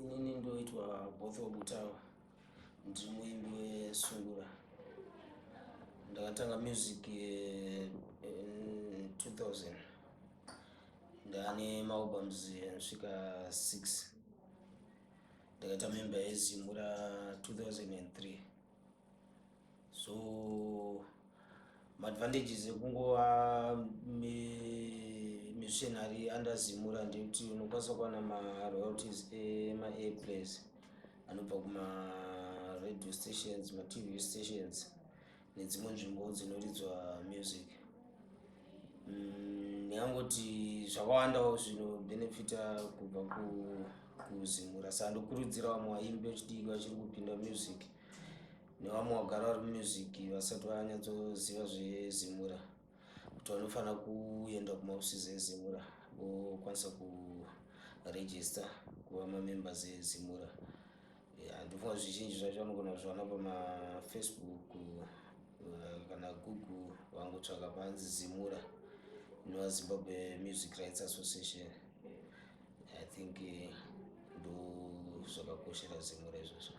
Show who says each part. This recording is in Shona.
Speaker 1: inini ndoitwa botho butawa ndiri muimbi wesungura ndakatanga music eh, in 2000 ndane maalbums anosvika 6 ndakaita memba yezimura 2003 so maadvantages ekungova missionary under zimura ndekuti unokwanisa kuwana maroyalties emaairplays anobva kumaradio stations matv stations nedzimwe nzvimbo dzinoridzwa music mm, ndingangoti mm, zvakawandawo zvinobenefita kubva kuzimura saka ndokurudzira vamwe vaimbi vechidiki vachiri kupinda music nevamwe vagara vari mumusiki vasati vanyatsoziva zvezimura kuti vanofanira kuenda kumaofisisi ezimura vokwanisa kuregista kuva mamembers ezimura handifunga yeah, zvizhinji zvacho vanogona kuzviwana pamafacebook eh, kana google vangotsvaka panzi zimura inova zimbabwe music rights association I think eh, ndozvakakoshera zimwe rezvozvo